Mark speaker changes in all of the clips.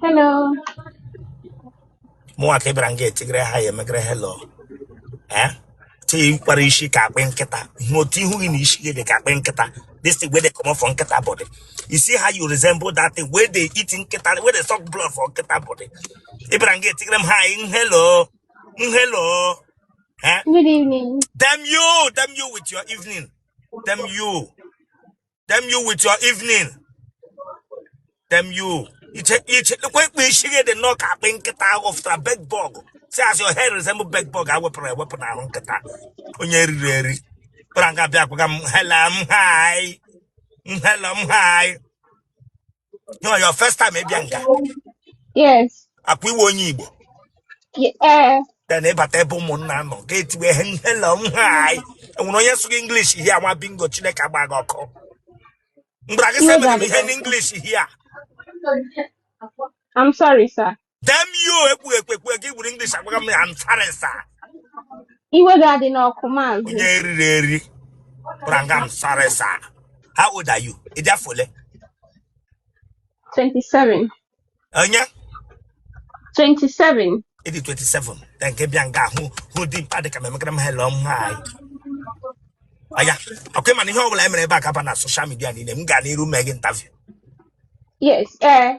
Speaker 1: Hello. mụnwa ka ị bịara nga etigere hi emegere hello eh tikwara isi ka akpị nkịta hụ otu ihu gị na isi gị dị ka akpị nkịta this thing wey dey comot for nkịta body you see how you resemble that thing wey dey eat nkịta wey dey suck blood for nkịta body ị bịara nga etigere m hi na hello hello eh Good evening.
Speaker 2: damn you damn
Speaker 1: you with your evening damn you damn you with your evening damn you iche iche ekwe ekpe isi gị dị nnọọ ka akpị nkịta ahụ fụtara bed bug see as your head resemble bed bug e wepụrụ ewepụ n'ahụ nkịta onye eriri eri bịara nga bịa akaga m hello m hi m hello m hi Na your first time ịbịa nga.
Speaker 2: Yes. Ọkwa ị wụ
Speaker 1: onye Igbo. Eh.
Speaker 2: Then
Speaker 1: ịbata ebe ụmụnna nọ gị etiwe ihe hello na hi. Enwere onye sụrụ gị English here nwa bingo Chineke agba gị ọkụ. M gwara gị sị ihe
Speaker 2: n'English
Speaker 1: here. I'm
Speaker 2: sorry, sir. damn you
Speaker 1: ekpughe ekpekpe gị buru English agwaga m I'm sorry
Speaker 2: sir iwe gị adịna ọkụ maazị onye eriri
Speaker 1: eri bịara nga I'm sorry sir how old are you ị dị afọ ole 27
Speaker 2: onye 27 ị dị
Speaker 1: 27 na nke bịa nga hụ dimkpa dịka m emegere m hello m hi oya ọkwa ị ma na ihe ọbụla e mere ebe a ga-aba na social media niile m ga n'iru mee gị interview yes
Speaker 2: ee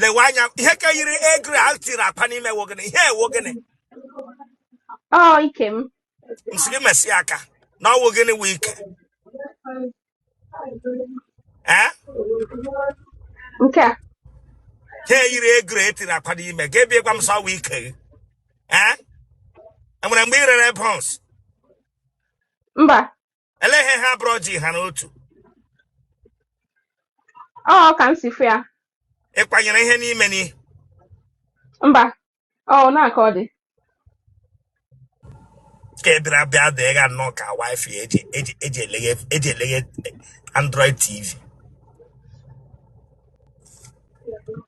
Speaker 1: lewe anya ihe ka yiri egg roll e tiri akwa n'ime ọ wụ gịnị ihe a wụ
Speaker 2: gịnị ọ ike m m sị gị mesi
Speaker 1: aka na ọwụ gịnị wụ ike
Speaker 2: ee nke
Speaker 1: a ihe a yiri egg roll e tiri akwa n'ime gị bịa gwa m sị ọwụ ike gị ee enwere mgbe ị rere buns
Speaker 2: mba
Speaker 1: elee ihe ha abụọ ji ha
Speaker 2: n'otu ọ ka m si fụ ya ị kwanyere
Speaker 1: ihe n'ime n'ihe
Speaker 2: mba ọ na-aka ọ dị
Speaker 1: ka ị bịara bịa dịga nnọọ ka wifi eji eji eji eleghe eji eleghe android tv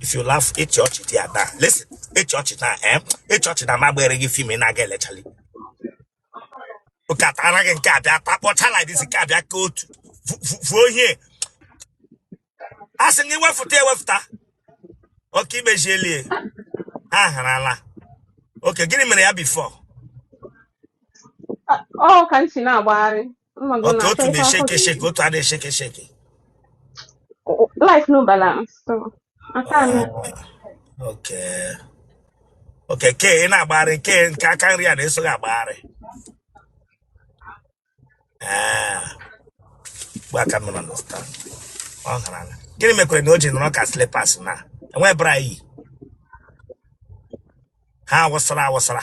Speaker 2: if you
Speaker 1: laugh ịchị ọchị dị ya taa listen ịchị ọchị taa eh ịchị ọchị taa m agbaara gị film ị na-aga elechali ụka tara gị nke a bịa takpọchaa like this nke a bịa ka otu Vu- vu- vuo ihe a sị gị wefụta ewefụta okay imezielie ha harala okay gịnị mere ya before
Speaker 2: ọ ka m si na-agbagharị Mma gị otu na-achọ otu ife afọ na-esheke
Speaker 1: esheke ga-eri. otu a na-esheke
Speaker 2: esheke Life no balance. So, aka
Speaker 1: anụ. Oh, okay okay ka ị na-agbagharị nke nke aka nri a na-eso gị agbagharị ee mgbe aka nọ na nọsta ọ hara ala gịnị mekwere na o ji nọrọ ka slipas na e were bra yi ha awụsara awụsara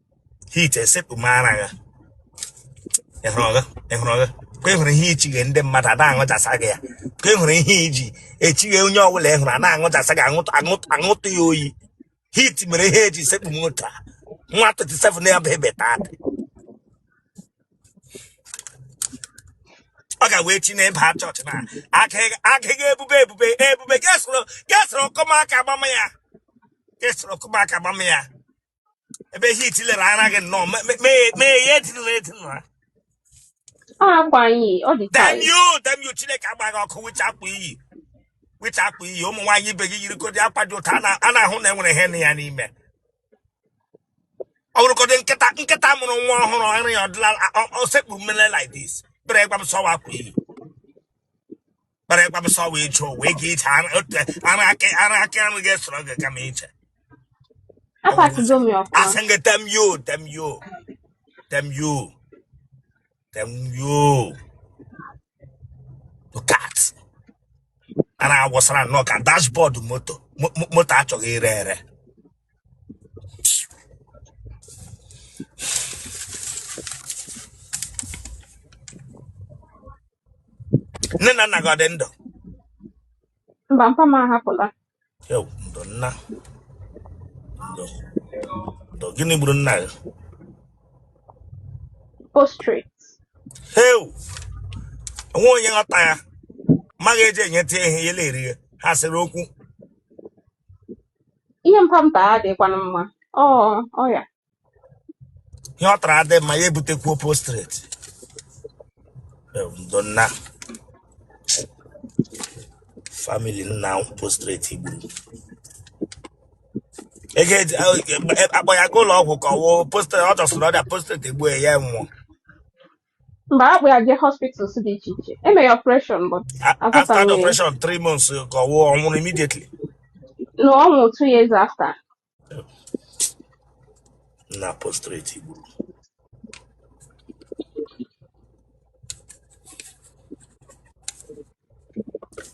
Speaker 1: heat esepụ m ara gị ị hụrụ gị ka ị hụrụ ihe ichighe ndị mmadụ a na-aṅụchasa gị ya ka ị hụrụ ihe i ji echighe onye ọ bụla ị hụrụ a na-aṅụchasa gị aṅụtụ ya oyi heat mere ihe e ji sekpu m otu a nwa 37 ya bụ ebe taa ọ ga wee chi n'ebe ha chọọchị na agịghị ebube ebube ebube kesoro kesoro ọkọmaka agbama ya kesoro ọkọmaka agbama ya ebe ihe itilere ara gị nnọọ me- me- me- mee ihe etinụrụ etinụrụ ha ọ
Speaker 2: akwa anyị ọ dị ka anyị damn you damn
Speaker 1: you chineke
Speaker 2: gbaa
Speaker 1: gị ọkụ which akwa i yi which akwa i yi ụmụ nwaanyị ibe gị yirikodi akwa dị ụtọ a na- a na-ahụ na e nwere ihe nọ ya n'ime ọ bụrụkọdị nkịta nkịta mụrụ nwa ọhụrụ ara ya ọdịla ọ- ọ sekpuru mmele like this bere gwa m sọwa akwa i yi kpara ịgwa m sọ wee iche ụwa ị ga-iche ara aka ara aka nri gị sọrọ gị kama
Speaker 2: iche Apatigo m ya ọfụma. a sị gị damn
Speaker 1: you damn you damn you damn you look at a na-awụsara nnọọ ka dashboard moto mo- mo- moto a chọghị ire ere nne na nna gị ọ dị ndụ
Speaker 2: mba mpa m ahapụla Ewo, ndo
Speaker 1: nna ndo ndo gịnị gburu nna
Speaker 2: gị postrate
Speaker 1: heu o nwe onye ghọta ya maghị e ji enye tie ihe ya na-eri ya ha sịrị okwu
Speaker 2: ihe mpa m ta adịkwanụ mma
Speaker 1: ọ ọ ya ihe ọ tara adị mma ya ebutekwuo postrate ndo nna famili nna postrate gburu ego e ji- a- akpọ ya ga ụlọ ọgwụ ka ọ wụ postrate ọ dasịrị ọrịa postrate egbuo ya ya nwụọ
Speaker 2: mgbe a kpụ ya jee hospitals dị iche iche e mee ya operation but A- after the azọtaghị ya
Speaker 1: operation three
Speaker 2: months ka
Speaker 1: ọ nwụọ ọ nwụrụ immediately na ọ
Speaker 2: nwụrụ two years after
Speaker 1: na prostrate gburu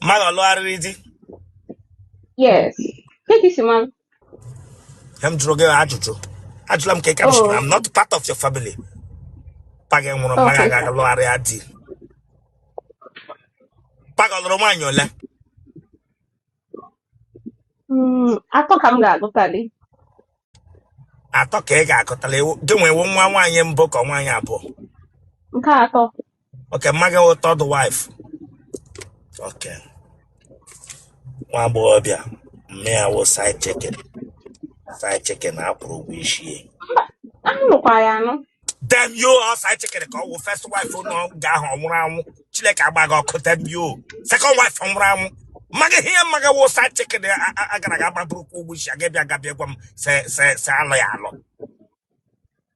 Speaker 1: mama gị ọ lụgharịrị di
Speaker 2: yes kee ka i si ma
Speaker 1: ya m jụrụ gị ajụjụ ajụla m ka ị ka oh. I'm not part
Speaker 2: of your
Speaker 1: family pa gị nwụrụ mma gị aga lụgharịa
Speaker 2: di
Speaker 1: pa gị ọ lụrụ nwaanyị ole
Speaker 2: hmm, atọ ka m
Speaker 1: ga-agụtali atọ ka ị ga-agụtali gị nwee nwa nwaanyị mbụ ka nwaanyị abụọ nke
Speaker 2: atọ Okay, mma
Speaker 1: gị wụ third wife. Okay. Nwa agbọghọ bịa, mma ya wụ side chicken. Side chicken a kwụrụ ụgwọ isi ya. Mba, a
Speaker 2: nụkwa ya anụ. Damn you ọ
Speaker 1: side chicken ka ọ wụ first wife nọ nga ahụ ọ nwụrụ anwụ. Chineke agbaa gị ọkụ damn you. Second wife ọ nwụrụ anwụ. Mma gị ihe mma gị wụ side chicken a- a- a gara aga gbaburukwa ụgwọ isi ya gị abịa nga bịa gwa m se se se a lụ ya alụ.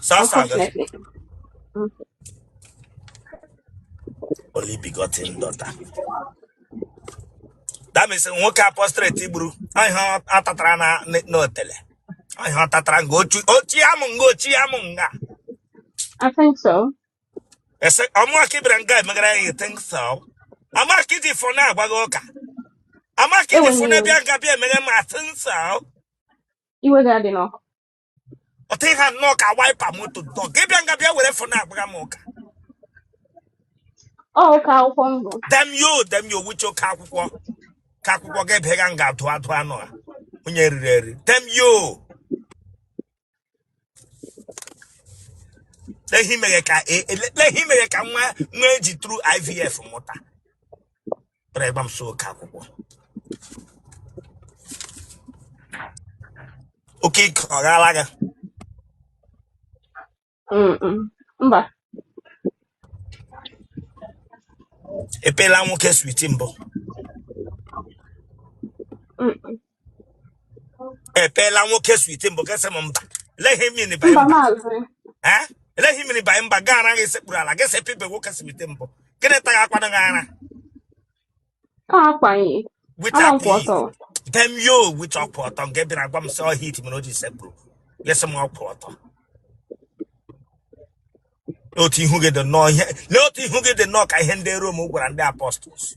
Speaker 2: Sọsọ m,
Speaker 1: Unfortunately. Mm. only begotten daughter. That means nwoke apostrate gburu ihe ọ tatara na na- n'otele. Ihe ọ tatara nga ochi ochi amụ nga ochi amụ nga.
Speaker 2: I think so. A
Speaker 1: sị ọ mụwa ka ị bịara nga emegara ya you think so. Ọ mụwa ka i ji fọne agwaga ụka. Ọ mụwa ka i ji fọne abịa nga bịa emegha m I think so. iwe
Speaker 2: ga-adị n'ọkụ. otu
Speaker 1: ị ha nnọọ ka wiper moto dọ gị abịa nga bịa were fọne agwaga m ụka Ọka akwụkwọ
Speaker 2: m bụ. damn you damn you which
Speaker 1: ọka akwụkwọ ka akwụkwọ gị bịa ga nga adụ adụ anụ ọhịa onye e riri eri damn you lee ị mere ka e- e- lee ị mere ka nwa nwa e ji through IVF mụta bịara ịgwa m sị ọka akwụkwọ okay ike ọ gaala gị
Speaker 2: Mm, mm.
Speaker 1: Mba. i piela nwoke sweet mbụ Mm, mm. I piela nwoke sweet mbụ gị asị m mba. Let him in by mba.
Speaker 2: Eh?
Speaker 1: Let him in by mba gara gị sekpuru ala gị si pibe nwoke sweet mbụ. Gịnị ta ya akwana gị ara?
Speaker 2: Akwaghị. With
Speaker 1: a
Speaker 2: pee. Damn
Speaker 1: you which ọkwụ ọtọ nke bịara gwa m sị ọ heat mere o ji sekpuru. Gị asị m ọkwụ ọtọ. Otu ihu gị dị nnọọ ihe. Lee otu ihu gị dị nnọọ ka ihe ndị Rom gwara ndị apostles.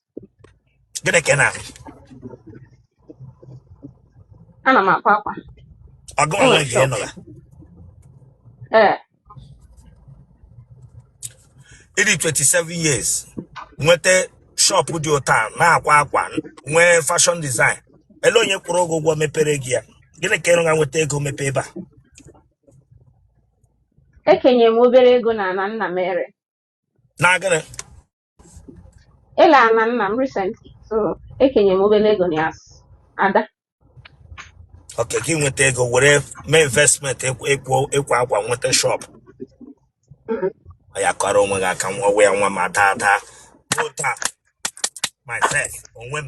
Speaker 1: gịnị ka ị
Speaker 2: na-arụ ana m akwa akwa ọgụ
Speaker 1: onwe gị ị nụla ee ị dị 27 years nweta shọpụ dị otu a, na-akwa akwa nwee fashion design ele onye kwụrụ ụgwọ ụgwọ mepere gị ya gịnị ka ị rụga nweta ego mepe ebe a
Speaker 2: e kenye m obere ego n'ana nna m e re na gịnị ele ana nna m recently so ekenye m obere ego na ya as ada
Speaker 1: okay gị nweta ego were mee investment ekwo ekwo- ịkwa akwa nweta shop Mm. ya kọrọ onwe gị aka nwa ya nwa ma daa daa ruo taa myself onwe m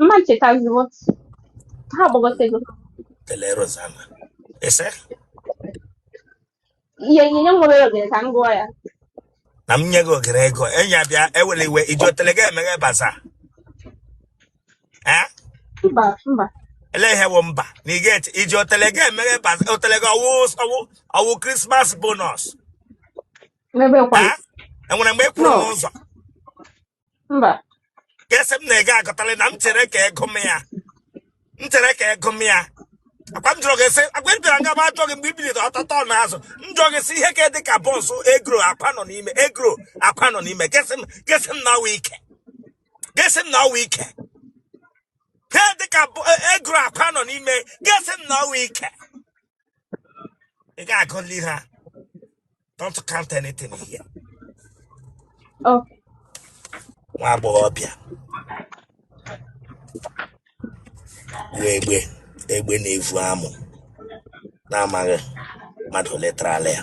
Speaker 2: mma nchetaziwo ha agbagotego Otele Rosanna.
Speaker 1: Ị
Speaker 2: sị? ihe ihe nye nwere ogere ka m gụọ ya Na m nye
Speaker 1: gị ogere ego, enyi abịa ewele iwe, iji otele gị emeghe bazaar. Eh? mba
Speaker 2: mba Ele ihe
Speaker 1: wụ mba. Na ị ga-eji otele gị emeghe baz- otele gị ọwụ ọwụ ọwụ Christmas bonus.
Speaker 2: n'ebe kwa Eh? Enwere mgbe ị
Speaker 1: kwuru no n'ụzọ.
Speaker 2: mba Gị
Speaker 1: sị m na ị ga-agọtali na m chere ka ego m ya. M chere ka ego m ya. Akwa m jụrụ gị sị, akwa m bịara nga m ajụọ gị mgbe i biliri ọtọtọ n'azụ. M jụọ gị sị ihe ka dị ka bọnsụ egro akwa nọ n'ime egro akwa nọ n'ime. Gị sị m gị sị m na ọ wụ ike. gị sị m na ọ wụ ike ihe dịka bụ- e- egro akwa nọ n'ime gị sị m na ọ wụ ike ị ga-agụli ha don't count anything here Okay. nwa agbọghọbịa wụ egbe egbe na-evu amụ na-amaghị mmadụ ole tara ala ya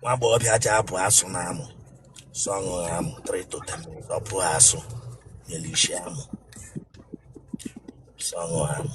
Speaker 1: nwa agbọghọbịa ji abụ asụ n'amụ sọ ṅụrụ amụ 3 to 10 minutes ọ bụọ asụ nyere isi amụ sọ ṅụrụ amụ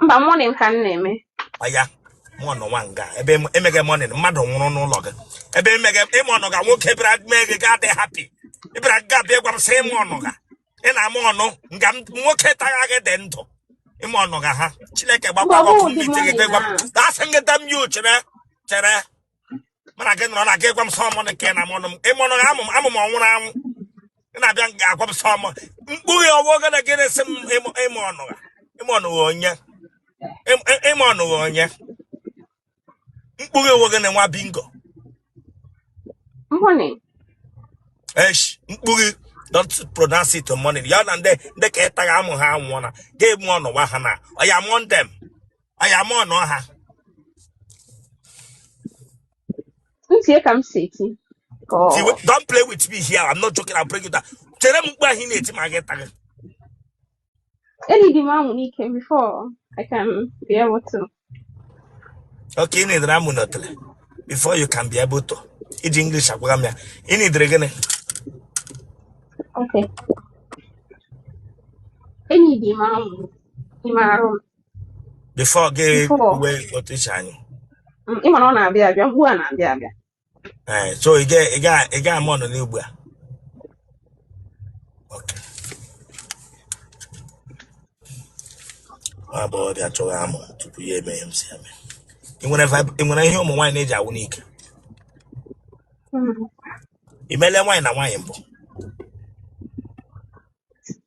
Speaker 2: mba moaning ka m na-eme
Speaker 1: aya mụ nọ nwa nga ebe emeghe mourning mmadụ nwụrụ n'ụlọ gị ebe emeghe ị mọnụga nwoke bịara mee gị gaa dị happy ị bịara nga bịa gwa m sị ị mọnụga ị na-amọnụ nga m- nwoke tagha gị dị ndụ ị mọnụga ha chineke gbakwa Mba, ọ ọkụ bụghị ndị ụdị ite gị moaning gwa m ahụ. asị m gị damn you chere chere mana gị nọrọ na gị gwa m sọmọ na nke na mọnụ m ị mọnụ amụ m amụ m ọ nwụrụ anwụ ị na-abịa nga agwa m sọmọ mkpughe ọwụ oge na gị na-esi m ịmụ- ị mọnụgha ị mọnụgha onye Ịm- ị- ị mọnụgha onye mkpughe ọwụ oge na nwa
Speaker 2: bingo Moaning. esh
Speaker 1: mkpughe don't pronounce it on mourning ya na ndị ndị ka ị tagha amụ ha anwụọ na ga-amọnụwa ha na ọya mụọ ndị m oya mọọnụọ ha ntị ka m si eti ka ọ Tiwe, don't play with me here i'm not joking i'll bring you down chere m mkpu ahụ ị na-eti ma gị taghị
Speaker 2: enidi m amụ n'ike before I can be able
Speaker 1: to okay ị nidiri amụ n'otele before you can be able to iji english agwaga m ya ị nidiri gịnị
Speaker 2: okay enidi m amụ n'ime arụ m
Speaker 1: before gị Before. uwe otu
Speaker 2: iche anyị
Speaker 1: Mm, Ị mara
Speaker 2: ọ na-abịa abịa, mkpu a na-abịa abịa. Eh, so
Speaker 1: ị ga- ị ga- ị ga-amọọnụ ugbu a Okay. Ọ bụ ọbịa chọghị amụ tupu ya eme ihe m si eme ị nwere vib- ị nwere ihe ụmụ nwaanyị na-eji awụ n'ike Mm. i meela nwaanyị na nwaanyị mbụ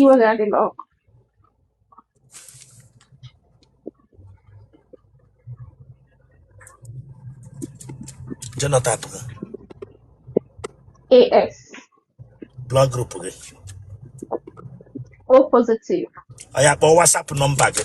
Speaker 2: iwe ga-adị
Speaker 1: n'ọkụ genotype gị
Speaker 2: AS
Speaker 1: blood group gị O
Speaker 2: positive oya kpọọ
Speaker 1: WhatsApp number gị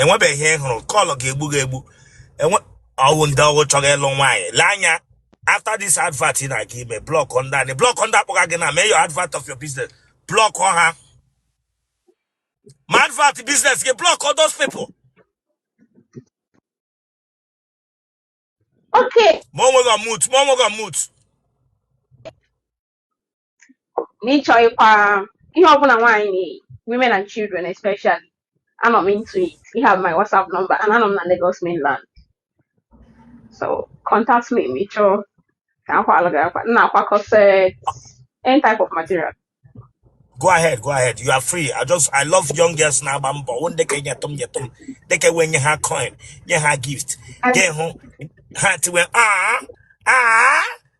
Speaker 1: enwebeghị ihe ị hụrụ call ga-egbu gị egbu and ọ wụ ndị ọ wụ chọga ịlụ nwaanyị lee anya after this advert ị na-aga ime block ndị ahụ block ndị akpọga gị na mee your advert of your business block ha ma advert business gị block all those
Speaker 2: people Okay. ma o nweghị mut ma o
Speaker 1: nweghị mut
Speaker 2: na ị chọkwa ihe ọbụla nwaanyị na-eyi women and children especially anọ m into it you have my whatsapp number and anọ m na Lagos mainland so contact me ma ị chọọ ka a kwaalụ gị akwa m na-akwa corset any type of material
Speaker 1: go ahead go ahead you are free i just i love young girls na-agba mbọ wụ ndị ka nyetụ m nyetụ m ndị ka wee nye ha coin nye ha gift And gee hụ ha tiwe aa aa